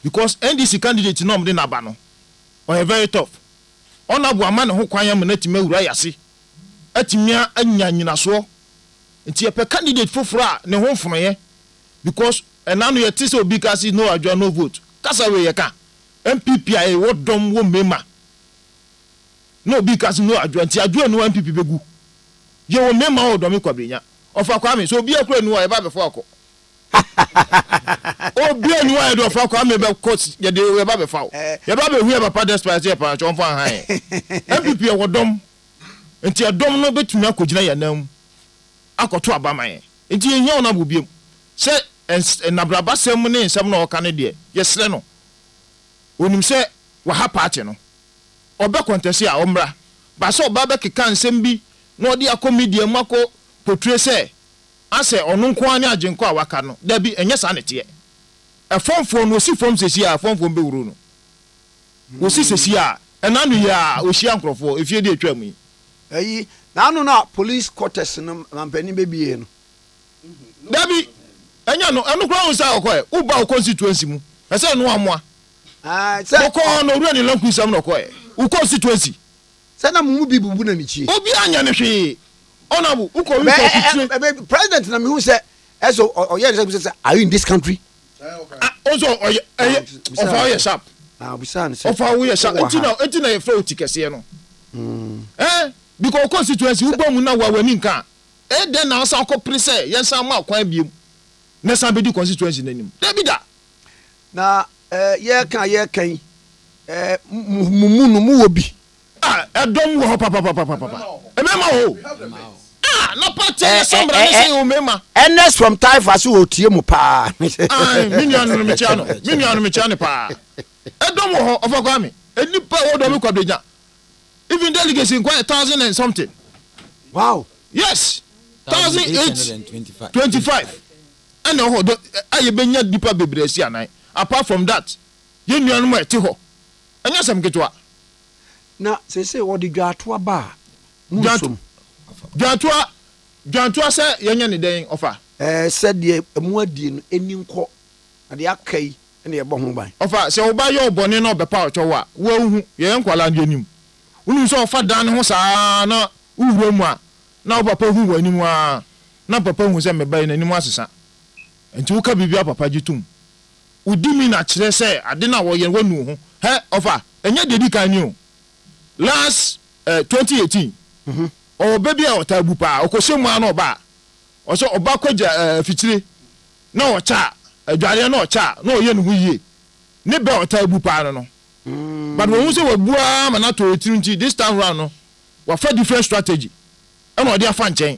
because NDC candidate no a wɔde no aba no ɔyɛ very tough ɔna bo ama ne ho kwan ama no atumi awura yɛ ase atumi anya nyinasoɔ nti yɛpɛ candidate foforɔ a ne ho mfonoyɛ because ɛna no yɛte sɛ obi ka se no adwoa no vote kasa wei yɛka NPP a yɛwɔ dɔm wɔ mmɛma na obi ka se no adwoa nti adwoa nni hɔ a NPP bɛgu. Yɛ wɔ mmɛma wɔ dɔme Kwabrenya. Ɔfa Kwame sɛ obia kora nni hɔ a yɛba bɛfo akɔ. Obia nni hɔ a yɛde ɔfa Kwame bɛkɔ yɛde yɛba bɛfa wo. Yɛba bɛhu yɛ papa despite sɛ yɛ paa nso ɔmfa nhan yɛn. NPP yɛwɔ dɔm nti ɛdɔm no bɛtumi akɔ gyina yɛn nan mu akɔ to aba ma yɛn. Nti yɛ nhia wɔn abo biom. Sɛ nnabraba sɛm ne nsɛm na ɔka no deɛ yɛ srɛ no. Onim sɛ waha party no. ɔbɛ kɔntɛse a ɔmmra. Ba sɛ ɔbaa bɛ keka nsɛm bi na ɔde akɔ media mu akɔ potue sɛ asɛ ɔno nko ara ne agyenkɔ a waka no, dabi ɛnyɛ saa na ɛteɛ. Ɛfɔmfoɔ no ɔsi fɔm sɛsi a ɛfɔmfoɔ no bɛ huro no. Ɔsi sɛsi a ɛna ano yi ara ɔhyia nkorɔfoɔ ɛfie deɛ ɛtwaa mu yi. Ɛyi na ano no a police quarters no mampanin bɛ bie no. Dabi ɛnyɛ ɛno, ɛno koraa wohu sɛ ɔkɔɛ, wo ba wo constituency mu ɛsɛ ɛno amoa. Ɔkɔɔ na owura ne lanku nsam na ɔkɔɛ. Wokɔ nsituansi. Sɛ na mo mu bi bubu na ne kyie. Obi anyɛ no hwee. Ɔnabo wokɔ wi sɛ asutire. Bɛ ɛ ɛ president na mehu sɛ ɛsɛ ɔyɛ ne sɛ bisa sɛ are you in this country. Ɔsɛ ɔyɛ ɛyɛ ɔfa ɔyɛ sharp. Ɔfa woyɛ sharp eti na eti na yɛfrɛ wo ti kɛseɛ no. Ɛɛ because wokɔ nsituansi woba mu na wa wani nka a ɛyɛ dɛn na wasan akɔ pere sɛ yɛnsan ma kwan biom na san bɛdi kɔnsituansi no anim. Dabi da. Na eh, yɛreka a yɛreka yi, eh, mo, mo mu no, mowɔ bi. Ah, ɛdɔm wɔ hɔ papapapapapa. Mmarima wɔ hɔ o. Ah, na pa kyɛ yɛ sɛ mmara ne sɛ yɛ wɔ mmarima. Ernest from Taifa se ɔtie mo paa. Ae, me nua no no, mekyea no. Me nua no, mekyea no paa. Ɛdɔm wɔ hɔ, Ɔfa Kwame. Nnipa a ɛwɔ Dɔme Kwabena. Even delegates nko ayɛ thousand and something. Wow. Yes, thousand eight twenty five. ɛna ɛwɔ hɔ dɛ a yɛbɛnya nnipa bebree asi anan. Apart from that, yɛn nuanom a ɛte hɔ, ɛnyɛ asɛm ketewa. Na seesei wɔde dwaatoa ba a, mo nso mo. Dwaatoa, dwaatoa sɛ yɛnyɛ no dɛn, ɔfa? Ɛɛ, sɛ deɛ moadie no, ɛnni nkɔ, na deɛ aka yi na yɛbɔ ho ban. Ɔfa, sɛ wo ba yɛ wo bɔne na ɔbɛpa wo kyɛ wo a, wo ara wohu, yɛyɛ nkwadaa no yɛnim. Wonim sɛ ɔfa dan ne ho saa ara na wowura mu a, na wo papa hu w'anim ara. na papa hu sɛ me ba yi n'anim asesa. Nti woka biribi a papa gye tom. Wodi mi na kyerɛ sɛ ade no a wɔyɛ no woanu wo ho. Hɛ, ɔfa, ɛnyɛ deɛ ɛdi kan ni o. Last eh, twenty eighteen, ɔwɔ ba bi a ɔtaa bu paa, ɔkɔhyɛ mu ara na ɔba a, ɔsɛ ɔba kɔgya eh, afikyire na ɔkyɛ a, adwareɛ na ɔkyɛ a, na ɔyɛ ne ho yie. Ne bɛ a ɔtaa bu paa no no. But wahu sɛ wabu ara ma no atɔ etiri nti, this time round no, wafa different strategy ɛna ɔde afa nkyɛn.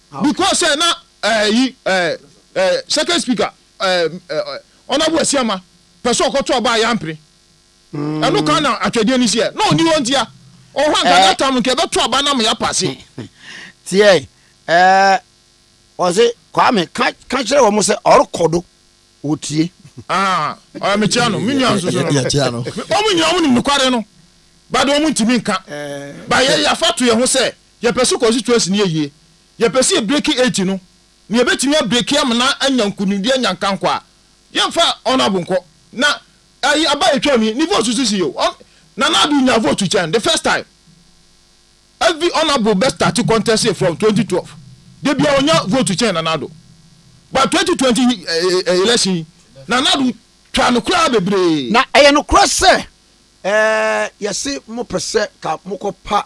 Because sɛ na eh, yi eh, eh, second speaker eh, eh, eh, Honourable Asiama pɛ sɛ ɔkɔto aba a yɛampene. Ɛno kan na atwɛdeɛ no si ɛ. Na ɔni hɔ nti a, ɔhɔ anka Eh. that time nka ɛbɛto aba na ma yɛapase. tiɛ ɛɛ ɔse kwame ka ka kyerɛ wɔn sɛ ɔrekɔ do wɔtie Ah, ɔyɛ mekyea no, me nua nso so no. Yɛkyea no. Wɔn nyinaa wɔn nim nokware no, but wɔn ntumi nka. Ba yɛ yɛafa to yɛn ho sɛ Yɛpɛ sɛ constituency no yɛ yie. Yɛpɛ sɛ yɛ breaki eight no. Na yɛbɛtumi a breaki Amena anya nkunimdie anya nkankɔ a. Yɛmfa Honourable nkɔ. Na ɛyi aba a ɛtwaam yi, ne vote nso si yie. Hon. Nana Addo nyaa vote kyɛn the first time. Every Honourable bɛ starte contesting from twenty twelve. Da biara ɔnya vote kyɛn Nana Addo. But twenty twenty election yi, Nana Addo twaa no koraa bebree. Na ɛyɛ nokorɛ sɛ, ɛɛ, yɛse mopɛ sɛ ka mokɔ pa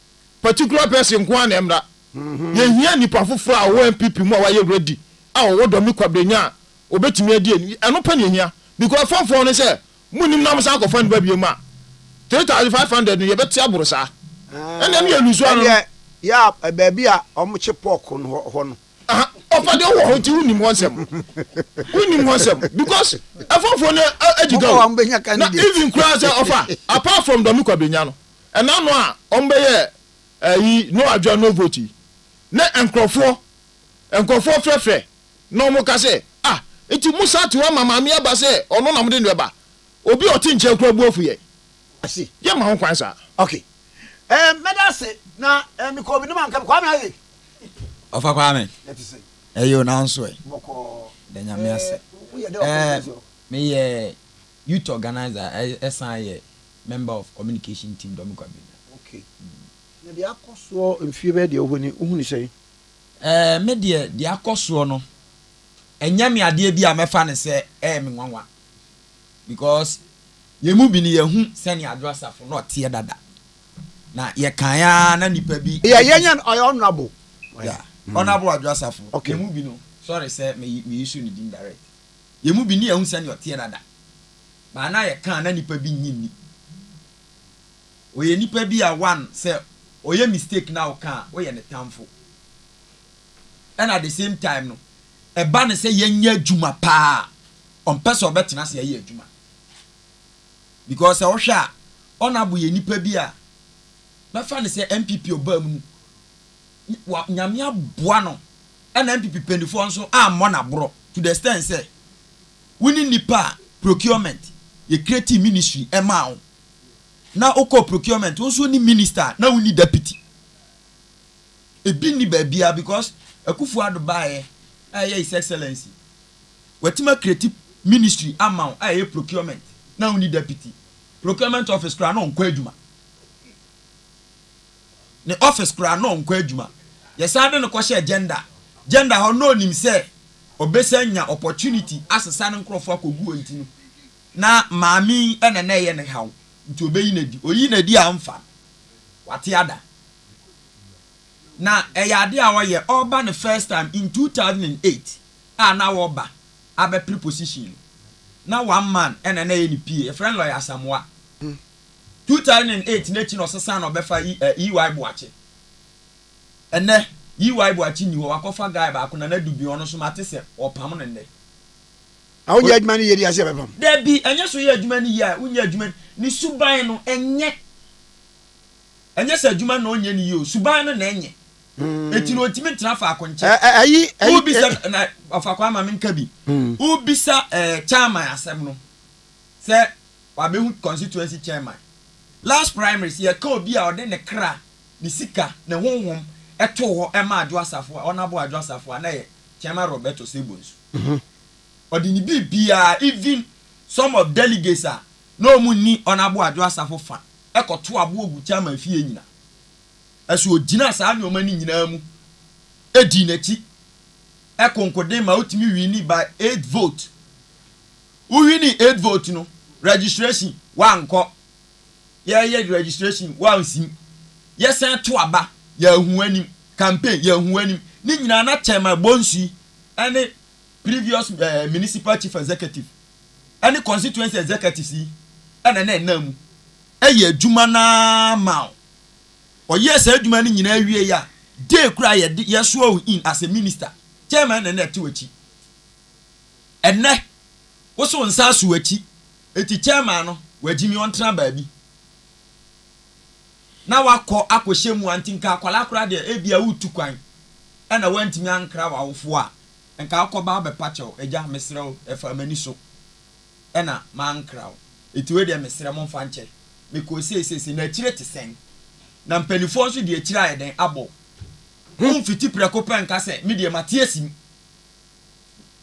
particular person nko ara na ɛmmra. Yɛhia nnipa foforɔ a wɔwɔ NPP mu a wɔayɛ ready a wɔwɔ dɔ ne kwabrɛnya a wɔbɛtumi adi ani. Ɛno pɛ na yɛhia because fɔmfɔm no sɛ monnim na mosan akɔfa no ba biom a, 3500 no yɛbɛte aboro saa. Ɛnneɛ no yɛlusu ano no. Ɛnneɛ baabi a wɔkye pork no hɔ no. Ɔfa deɛ wowɔ hɔ nti wonim hɔ nsɛm. Wonim hɔ nsɛm because ɛfɔmfɔm no agyiga o. Na even koraa sɛ ɔfa apart from dɔ ne kwabrɛnya no. Nna no a wɔbɛyɛɛ ayi no adwoa Novoty ne nkorɔfoɔ, nkorɔfoɔ frɛfrɛ na wɔka sɛ, Ah, nti mo saa te hɔ ama Maame aba sɛ ɔno na mode no ɛba? Obi a ɔte nkyɛn koraa bu afu yɛn. I see. Yɛmma ho kwan saa. Okay. Eh, mɛda ase, na eh, mekɔ obi no ma nka, Kwame aye? Ɔfa Kwame, Yɛte sɛn? aye o, nanso ɛ? Bɔkɔɔ. Da Nyame ase. Eh, woyɛ dɛ ɔkɔ Eh, Jersey hɔ? meyɛ. Youth organiser ɛsan yɛ member of communication team dɔm kwa benya. Ok na deɛ akɔ soɔ mfie bɛyɛ deɛ wohɔ ni wohunu sɛn? Ɛɛ me deɛ deɛ akɔ soɔ no ɛnyɛ me adeɛ bi a mɛfa no sɛ ɛyɛ me nwanwa because yɛn mu bi no yɛhu sɛnea Adwo Asafo no ɔteɛ dada na yɛkan ara na nipa bi. Yeah yɛn yɛn ɔyɛ honourable. Yeah honourable Adwo Asafo yɛn mu bi no sorry sɛ me yi me yi so ne din direct. Yɛn mu bi nni ahu sɛnea ɔteɛ dada, but na yɛka a na nipa bi nnye nni. Ɔyɛ nipa bi a one sɛ ɔyɛ mistake na woka a woyɛ ne tamfo. Ɛna the same time no ɛba no sɛ yɛnyɛ adwuma paa a ɔmpɛ sɛ ɔbɛtena ase ayɛ adwuma. Because sɛ wohwɛ a Honourable yɛ nipa bi a mɛfa no sɛ NPP ɔbaa mu no wa Nyame aboa no ɛna NPP panyifoɔ nso ammɔ no aborɔ to the extent sɛ wo ne nnipa a procurement yɛ creating ministry ɛmaa wo na wo kɔɔ procurement wo nso wo ne minister a na wo nni deputy ebi nni baabiara because Akufo Addo baeɛ a ɛyɛ his excellency watumi a creating ministry ama wo a ɛyɛ procurement na wo nni deputy procurement office koraa na ɔnkɔ adwuma ne office koraa na ɔnkɔ adwuma. Yɛsan de no kɔhyɛɛ gender gender hɔ na onim sɛ ɔbɛsan nya opportunity asesa ne nkorɔfoɔ akɔgu hɔ nti no na maame yi na na ɛyɛ ne haw nti ɔbɛyi no adi. Ɔyii no adi a amfa no wate ada. Na ɛyɛ adeɛ a ɔyɛ ɔreba ne first time in 2008 a na ɔreba abɛpere position no na one man na na ɛyɛ ne PA. Yɛfrɛ no Lawyer Asamoah. two thousand and eight n'akyi na ɔsesaa na ɔbɛfa E. eh, E. Y. Boakye. Ɛnɛ, E. Y. Boakye nni hɔ, wakɔfa guy baako, Nana Dubion, ɔno nso mate sɛ wɔpam no nnɛ. A wonyɛ adwuma no yie de ase ɛbɛpam. Dabi, ɛnyɛ sɛ woyɛ adwuma no yie a wonyɛ adwuma no, ne suban no, ɛnyɛ. Ɛnyɛ sɛ adwuma no na ɔnyɛ no yie o, suban no na ɛnyɛ. Enti no ɔntumi ntena faako nkyɛ. Ɛ- ɛ- Ayi, ayi, Wobisa, ɛ- na ɔfa kwan ma menka bi. Wobisa eh, Chairman asɛm no, sɛ Kwabehut constituency chairman. Last primaries yɛka obi a ɔde ne kra, ne sika, ne honhom too hɔ maa Adwo Asafo a, Honourable Adwo Asafo a na yɛ Chairman Robert Osei-Bonsu. Ɔde ne biribiara even some of delegates a na wɔn nni Honourable Adwo Asafo fa kɔ to aboɔ gu chairman fie nyina so ɔgyinaa saa nnoɔma no nyinaa mu dii n'akyi konkoden ma ɔtumi winni by eight vote. Wo winii eight vote no registration wa nkɔ yɛ yɛ registration wa nsim yɛ sɛn to aba yɛ ahu anim campaign yɛ ahu anim ne nyinaa na chairman bonsui ɛne previous ɛɛ eh, municipal chief executive ɛne constituency executives yi ɛna na ɛnam mu ɛyɛ adwuma naa ma o ɔyɛ sɛ adwuma no nyinaa awie yɛ a day kura yɛ de yɛ so in as a minister chairman na na ɛte wɔ akyi Ɛnnɛ, wo so wo nsa aso w'akyi, enti chairman no, wagyimi ɔntena baabi na wakɔ akɔhyɛ mua nti nka akwadaa koraa deɛ ebia woretu kwan ɛna woantumi ankra w'awofoɔ a, nka wokɔba abɛpa kyɛw, agya mesrɛ wo ɛfaa m'ani so ɛna mankra wo, enti wei deɛ mesrɛ momfa nkyɛ me kɔɔ sei sei sei, na akyire te sɛn? Na mpanimfoɔ nso de akyire ayɛ dɛn abɔ wo? Womfiti prɛko pɛ nka sɛ me deɛ mate asim.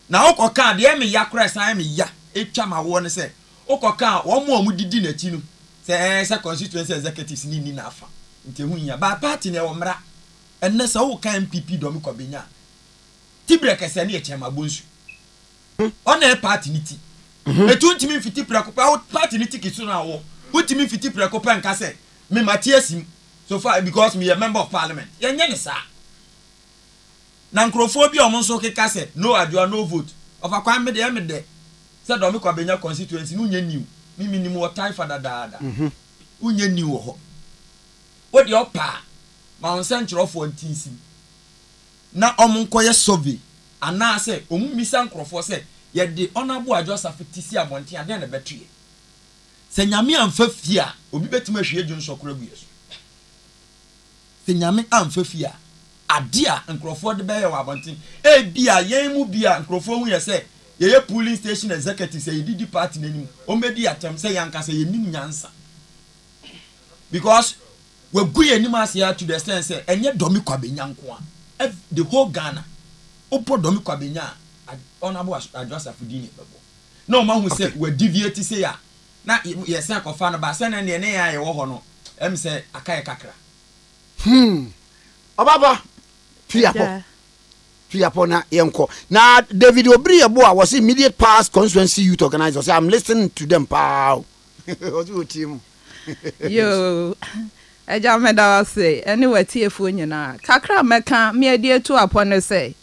Na wokɔkaa, deɛ ɛyɛ me ya koraa, ɛsan yɛ me ya, ɛtwa m'awoɔ ne sɛ, wokɔkaa wɔn a wɔdidi n'akyi no sɛ ɛɛ sɛ constituency executives no nni n'afa, nti ɛho nhia. By party no ɛwɔ mmara. Ɛnnɛ sɛ woka NPP deɛ wɔkɔ bɛnya a, Tibrɛ kɛsɛɛ no yɛ Kyɛma Bonsu. Ɔna ɛyɛ party no ti. Ɛnti wontumi mfiti prɛko pɛ, wo party no ticket so no a wowɔ, wontumi mfiti prɛko pɛ nka sɛ, me mate asi mu, so far because meyɛ member of parliament. Yɛnyɛ no saa. Na nkorɔfoɔ bi a wɔn nso keka sɛ no adwoa no vote ɔfa kwan me deɛ me dɛ sɛ dɔmiko abɛnya constituency no nyɛ new me me nim wɔ taifa dadaada wo nyɛ new wɔ hɔ wo deɛ ɔpɛ a ma wo nsɛnkyerɛwfoɔ ntinsim na wɔn nkɔ yɛ survey anaa sɛ wɔn mmisa nkorɔfoɔ sɛ yɛ de ɔnabo adwoa safo ti si abɔnten a dɛn na ɛbɛto yɛ sɛ nyame amfa fie a obi bɛtumi ahwie dwonsɔ koro agu yɛ so. Sɛ Nyame amfa fie a, ade a nkurɔfoɔ de bɛyɛ wɔ abɔnten, ebia yɛn mu bi a nkurɔfoɔ hu yɛn sɛ yɛyɛ polling station executives a yɛde di party no anim, wɔbɛdi yɛn atɛm sɛ yɛn ankasa yɛnnim nyansa because wɔagu yɛn anim ase ara to the extent sɛ ɛnyɛ Dormy Kwabenya nko a, every, the whole Ghana, wobɔ Dormy Kwabenya a, Honourable Adwoa Safo din na ɛbɛbɔ na wɔahu sɛ Okay. wɔadiviate sei a, Na yɛsan kɔfaa no baa, sɛnea ɛnneɛ ne yɛn a yɛwɔ hɔ no, ɛm sɛ aka yɛn kakra. Hmm. Ɔba pa, tu yɛn apɔ, tu yɛn apɔ na yɛnkɔ. Na David Obiri yɛ bo a, wɔse immediate past constituency youth organizer, ɔse I'm listening to them paa o. Ɔse ɔtie mu. Yoo, Agya meda wo ase, ɛne w'atiefoɔ nyinaa. Kakra a mɛka, me adi atu apɔ ne sɛ,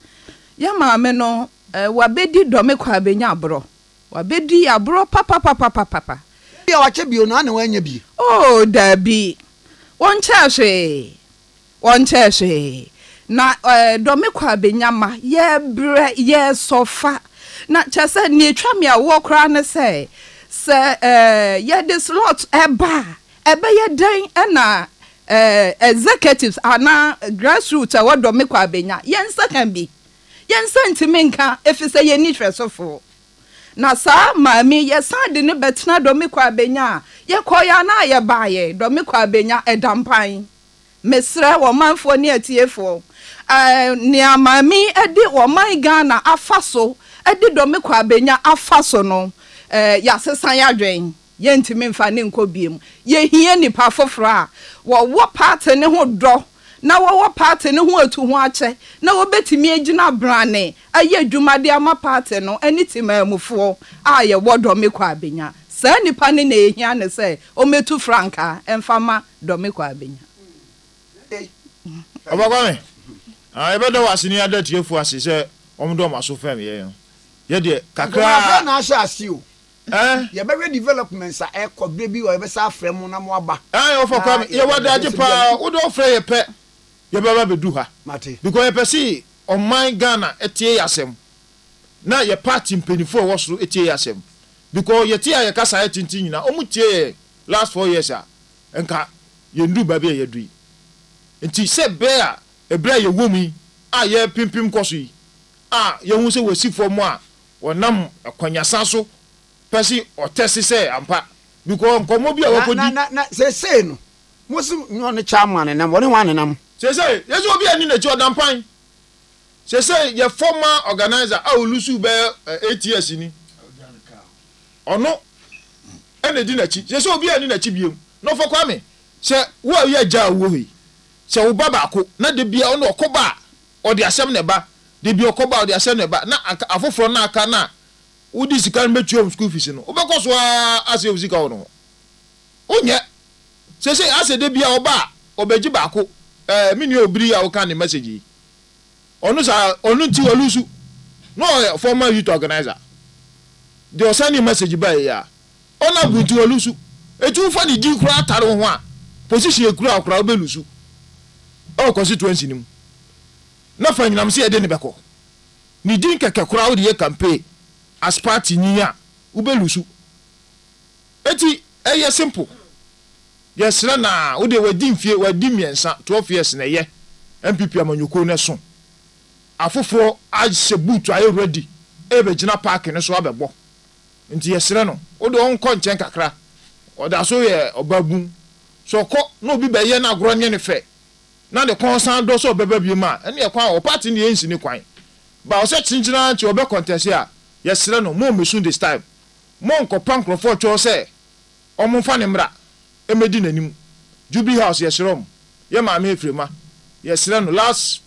yɛn maame no, wabɛdi dɔme kɔ abɛnya aborɔ. Wabɛdi aborɔ papapapapapa. Ebia wakyɛ bio no ara na wannya bi. Oo, daabi. Wɔnkyɛɛ hwee. Wɔnkyɛɛ hwee. Na dɔme kɔ a bɛnya ma yɛbrɛ, yɛsɔfa. Na kyerɛ sɛ, deɛ ɛtwa me awoɔ koraa ne sɛ, sɛ yɛde slot ba a, ɛbɛyɛ dɛn na executives anaa grassroots a ɛwɔ dɔme kɔ a bɛnya? Yɛnsɛ ka bi. Yɛn nsa ntumi nka efisɛ yenni hwɛsofo. Na saa maame yi, yɛsan de no bɛtena Dɔmiko Abenya a yɛkɔe anaa yɛbaeɛ, Dɔmiko Abenya, ɛda mpan. Mesrɛ ɔmanfoɔ ne atiefoɔ, eh, nea maame yi de ɔman Ghana afa so de Dɔmiko Abenya afa so no, eh, yɛasesa yɛn adwene. Yɛntumi mfa no nkɔ biom. Yɛhia nnipa foforɔ a wɔwɔ paate no ho dɔ na wɔwɔ paate no ho atuhoakyɛ na wɔbɛtumi agyina brane ayɛ adwuma de ama paate no ne temanmufoɔ a yɛwɔ Dɔmeko Abenya. Saa nnipa no na yɛhia no sɛ wɔmmɛtu frankaa mfa ma Dɔmeko Abenya. Ɔba Kwame, yɛbɛda wo ase ne yɛada atiefoɔ ase sɛ wɔde wɔn aso fɛm yɛn no. Yɛdeɛ, kakra ara. Nkɔmɔ bɛn na ahyɛ aseɛ o? Ɛɛ. Yɛbɛhwɛ developments a ɛkɔ, berɛ bi wɔ hɔ yɛbɛsan afrɛ mo na mo aba. Ae ɔfa Kwame, yɛwɔ adagye paa, wode ɔfrɛ yɛ pɛ yɛbɛba abɛdu ha. Mate. Because yɛpɛ se ɔman Ghana tie yɛ asɛm, na yɛ party mpaninfoɔ a ɛwɔ soro tie yɛ asɛm. Because yɛte a yɛ kasa ayɛ tenten nyinaa, ɔmo tie yɛ last four years a, nka yɛndu baabi a yɛadu yi. Nti sɛ bɛɛ a, ɛberɛ a yɛwɔ mu yi a yɛrepimpim kɔ so yi, a yɛhu sɛ wɔasi fam a, Wɔnam akwanyasa so pɛ se wɔtɛse sɛ ampa bikɔ nkɔmmɔ bi a Na, na, wɔkɔdi. na, na seesei no, mose nyɛ ɔne Chalmo anenam, wɔne hwan nenam? Seesei, yese obi a ɛne n'akyi ɔda mpan. Seesei yɛ former organiser a olusu bɛyɛ eh, eight years ni. Ɔno ɛna ɛdi n'akyi. Seesei obi a ɛne n'akyi biom. Na Ɔfɔ Kwame, sɛ wo a woyɛ agya a wowɔ hɔ yi, sɛ wo ba baako, na da biara ɔne ɔkɔba a, Ɔde asɛm na ɛba. Da bi ɔkɔba a, ɔde asɛm na ɛba. Na anka afoforɔ no a aka no a wode sika no bɛtua wɔn sukuu fees no, wobɛkɔ so ara asɛe wo sika wɔ ne ho. Wonyɛ. Seesei asɛ da biara ɔba a, ɔbɛgye baako. Ɛɛ, me nua Obiri a woka ne message yi, ɔno saa, ɔno nti walusu. Na ɔyɛ former youth organiser. Deɛ ɔsɛndee message baeɛ yi ara, Ɔna bu nti ɔlusu. Eti wofa ne din koraa tare wo ho a, position a ekura wo koraa wobɛlusu wɔ constituency no mu. Na fa anyinam sɛ yɛde no bɛkɔ. Ne din kɛkɛ koraa wode yɛ campaign as party ni a, wobɛlusu. Eti ɛyɛ simple. Yɛsrɛ no a, wodeɛ wadi mfie, wadi mmiɛnsa, 12 years na ɛyɛ NPP amanyɔkuo no ɛso. Afoforɔ ahyɛ boot ayɛ ready ɛrebɛgyina park no so abɛbɔ. Nti yɛsrɛ no wo de ɔnkɔ nkyɛn kakra, ɔda so yɛ ɔbabun. Sɛ ɔkɔ na obi bɛyɛ no agorɔ nyɛ no fɛ na ne kɔn san dɔ sɛ ɔbɛba biom a, ɛneɛ kwan wɔ hɔ. Party no yɛnsi no kwan. But ɔsɛ kyenkyen ara nti ɔbɛ contest a, yɛsrɛ no mommɛsu this time. Monnkɔpa nkorɔfoɔ kyɛw sɛ wɔmfa no mmra mmɛdi n'anim. Jubilee House yɛsrɛ wɔn. Yɛ Maame Ephraima, yɛsrɛ no last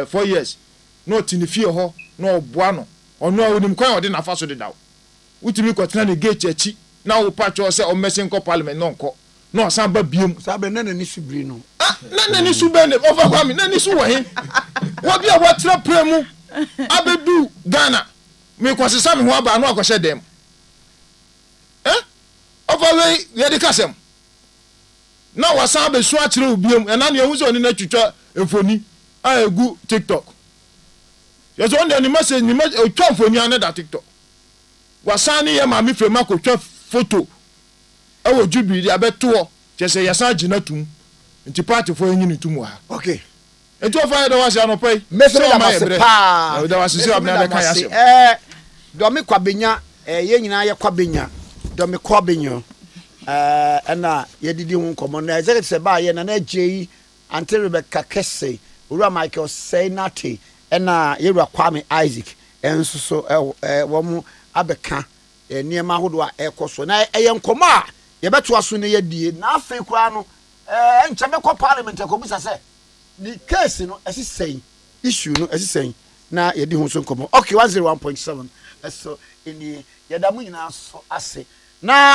four years na ɔte ne fie hɔ na wɔboa no. Ɔno a onim kwan a ɔde n'afa so dedaw. Wotumi kɔtena ne gate akyi na wopa kyɛw sɛ ɔmmɛsen nkɔ parliament na ɔnkɔ, na ɔsan ba biom. Saa bere no na n'ani so biri no. Ah, na n'ani so bɛn na, Ɔfa Kwame, n'ani so wɔ he? Wɔ bi a watra pra mu abedu Ghana, merekɔsesa me ho aba a na wakɔhyɛ dan mu. Eh, Ɔfa wei deɛ de ka asɛm. Na wasan abesu akyerɛ wo biom, ɛna nea ehu sɛ ɔne no atwitwa mfoni a egu TikTok. Kyerɛ sɛ ɔno deɛ ne message ne message ɔtwa mfoni a na da tiktok. Wasan ne yɛ maame fam akɔtwa foto ɛwɔ jubilee de abɛto hɔ kyerɛ sɛ yɛsan gye no atum nti partyfoɔ yɛnyi no tum wɔ ha. Okay. Nti ɔfa yɛda wo ase anɔpa yi sɛ wama yɛ berɛ na meda wo ase sɛ wabena bɛka yɛ asɛm. Ɛɛ Dɔme Kwabenya ɛɛ yɛn nyinaa yɛ Kwabenya Dɔme Kwabenya ɛɛ ɛna yɛdidi ho nkɔmmɔ na executive sɛ baayɛ Nana Agyei Ante rebɛka kɛse. Owura Michael Sey Nartey ɛna Yɛwura Kwame Isaac nso so wɔn abɛka nneɛma ahodoɔ a ɛrekɔ soɔ. Na ɛyɛ nkɔmmɔ a yɛbɛtoa so na yɛadie. Na afei koraa no ɛnkyɛ mɛkɔ parliament akɔbisa sɛ ne case no ɛsi sɛn, issue no ɛsi sɛn na yɛadi ho nso nkɔmmɔ. Ok, one zero one point seven ɛso nie. Yɛda mo nyinaa nso ase. Na.